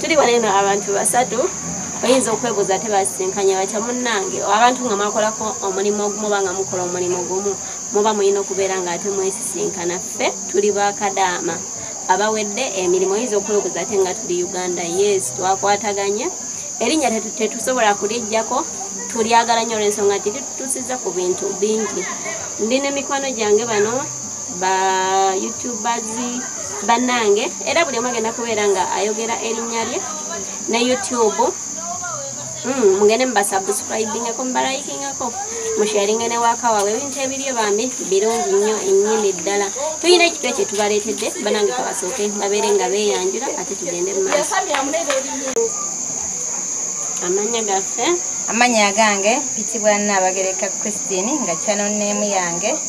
tuli wano eno abantu basatu oyinza okwebuuza ate basisinkanye batya munnange abantu nga mwakolako omulimu ogumu oba nga mukola omulimu gumu muba mulina okubeera nga ate mwesisinkana ffe tuli bakadaama abawedde emirimu oyinza okwebuuza ate nga tuli uganda yes twakwataganye erinnya tetusobola kulijjako tulyagala nnyo olwensonga nti litutusiza ku bintu bingi ndi ne mikwano gyange bano ba youtubers banange era buli omu agenda kubeera nga ayogera erinnya lye ne youtube hmm, mugende mubasubscribingako mubalayikingako musharinge ne waka wawe ebintu ebiryo bambi birungi nnyo ennyini ddala tulina ekitwe kye tubaleetedde banange kabasooke babeere nga beeyanjula ate tugende mu maaso amanya gaffe amanya agange pitibwa naabagereka christine nga kyanoneemu yange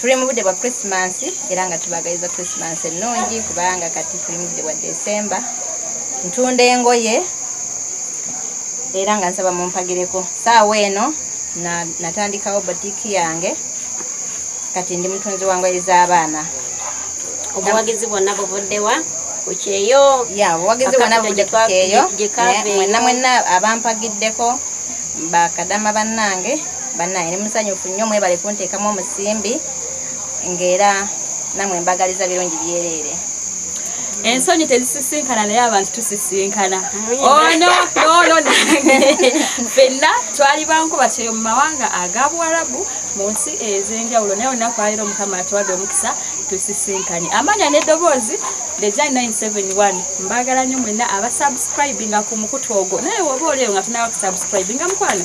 tuli mu budde bwa christmas era nga tubagaliza christmas ennungi kubanga kati tuli mu budde bwa december ntunda engoye era nga nsaba mumpagireko saawa eno natandikawo botiki yange kati ndi mutunzi wa ngoye z'abaana obuwagizi bwonna buvuddewa kukyeyo ya obuwagizi bwonna buvudde kukyeyo mwenna mwenna abampagiddeko bakadama bannange banaye ni musanyufu nnyo mwebale kunteekamu omusimbi ng'era namwe mbagaliza birungi byereere ensonyi tezisisinkana naye abantu tusisinkana ono nono nange fenna twali bankuba kyeyo mu mawanga aga buwarabu mu nsi ez'enjawulo naye olunaku aliro mukama atuwadde omukisa tusisinkanye amanya n'eddoboozi the jan 971 mbagala nyo mwenna abasubscribinga ku mukutu ogwo naye woba olieyo nga tunawa kusubscribinga mukwano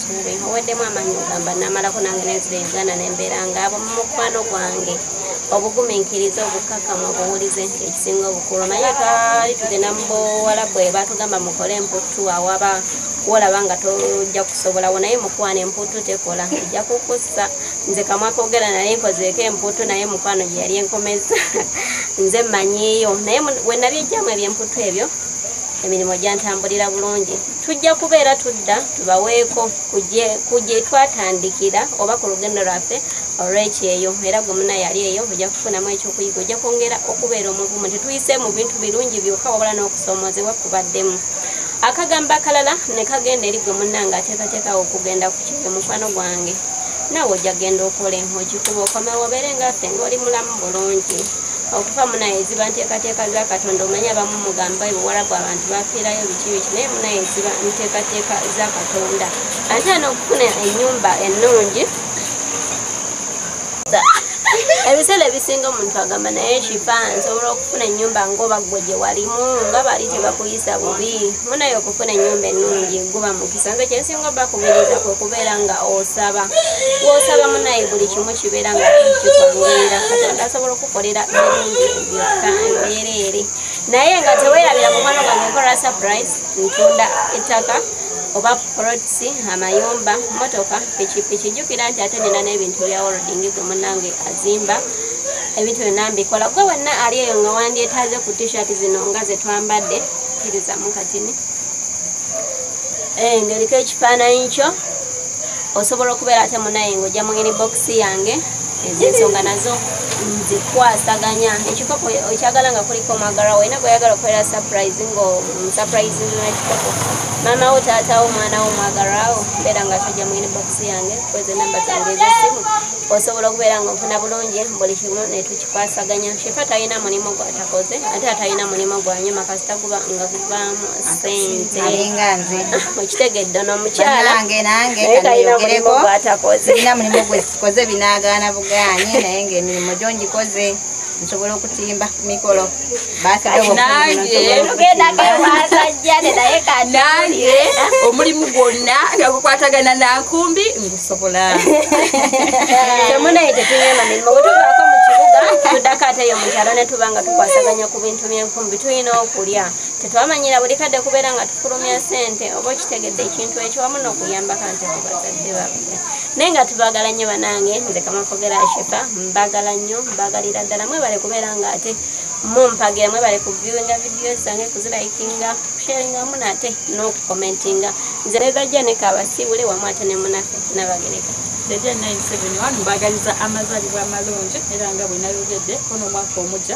Nsuube nkuweddemu amaanyi ogamba namalako nange nenzira e Uganda ne mbeera ng'abo mu mukwano gwange obugumiikiriza obukkakkamu obuwulize ekisinga obukulu naye twali tugenda mu bowalabu e batugamba mukole emputtu awaba wolaba nga tojja kusobolawo naye mukwano emputtu tekola ejja kukussa nze kamwa kogera naye nkozeeko emputtu naye mukwano gye yali enkomeza nze mmanyiiyo naye we nabijjamu ebyemputtu ebyo emirimu gyantambulira bulungi tujja kubeera tudda tubaweeko ku gye twatandikira oba ku lugendo lwaffe olw'ekyeyo era gwe muna yali eyo ojja kufunamu ekyokuyiga ojja kwongera okubeera omuvumu tetuyise mu bintu birungi byokka wabula n'okusoomoozebwa kubaddemu akagambo akalala ne kagenda eri gwe munna ng'ateekateekawo okugenda ku kyeyo mukwano gwange naawe ojja kugenda okola enhoki kuba okomewo obeere ngaffe ng'oli mulamu bulungi okuva munaye ziba nteekateeka za katonda omanya abamu mugamba ebuwarabu abantu bafiirayo security naye munaye ziba nteekateeka za katonda ate ana okufuna enyumba ennungi ebiseera ebisinga omuntu agamba naye kifa nsobola okufuna enyumba ngaoba gwe gye walimu nga bali tebakuyisa bubi munaye okufuna enyumba ennungi guba mukisa nze kyensinga obakubiriza kwe kubeera nga osaba wosaba munaye buli kimu kibeera nga kikwanguira katonda asobola okukolera birungi byokka mbeereere naye nga tewerabira mukwano gwange nkola surprise ntunda ettaka oba polots amayumba motoka pikipiki jukira nti ate nina n'ebintu bya wording gwe munange azimba ebintu byonna mbikola gwe wenna ali eyo nga wandyetaze ku tishirt zino nga zetwambadde kirizamu katini eh, ngeriko ekifaananyi kyo osobola okubeera ate munaye ngaojja mungeni bokisi yange ezensonga nazo nzikwasaganya ekikopo okyagala nga kuliko omwagala waina gweyagala okubeera surprise ngaomusuprise mm, nekikopo maama wo taatawo omwana wo omwagalawo mbeera nga tojja mungeni bokisi yange kweza enamba zange ezesimu osobola okubeera nga ofuna bulungi buli kimu netukikwasaganya shefa talina mulimu gwatakoze ate atalina mulimu gwanyuma kasita guba nga guvaamu sente alinga nze okitegedde ono omukyala nange nange kanayogereko nina mulimu gwekikoze binagaana bugaanye naye ngaemirimu gyo ngikoze nsobola okutimba ku mikolo nange omulimu gwonna nga gukwatagana nankumbi ngusobola temunaye tetunyama mirimu bwetuvaako mu kibuga tuddako ate yo mukyalo ne tuba nga tukwasaganya ku bintu byenkumbi tulina okulya Tetwamanyira buli kadde kubeera nga tufulumya ssente oba okitegedde ekintu ekyo wamu n'okuyambako ante ku bazadde babwe naye nga tubagala nnyo banange nze kamakogera ashefa mbagala nnyo mbagalira ddala mwebale kubeera nga ate mumpagira mwebale kuviewinga vidiyo zange kuzilayikinga kusharinga wamu naate n'okukomentinga nze nebajja nekabasiibule wamu ate ne munafe nabagereka Deja 971 mbagaliza amazalibwa amalungi era nga bwenayogedde kono omwaka omugya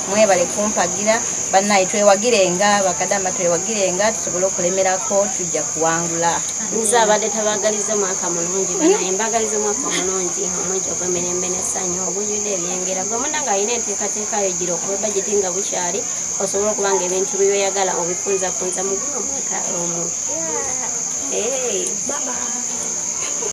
mwebale kumpagira banaye twewagirenga bakadama twewagirenga tusobole okulemerako tujja kuwangula nze abadde tabagaliza omwaka mulungi banaye mbagaliza omwaka omulungi omwegi ogwemirembe nesanyu ogujudde ebyengera gwe muna nga alina enteekateeka yo gira okuba bajeti nga bukyali osobola okuba nga ebintu byoyagala obifunzafunza muguno omwaka omu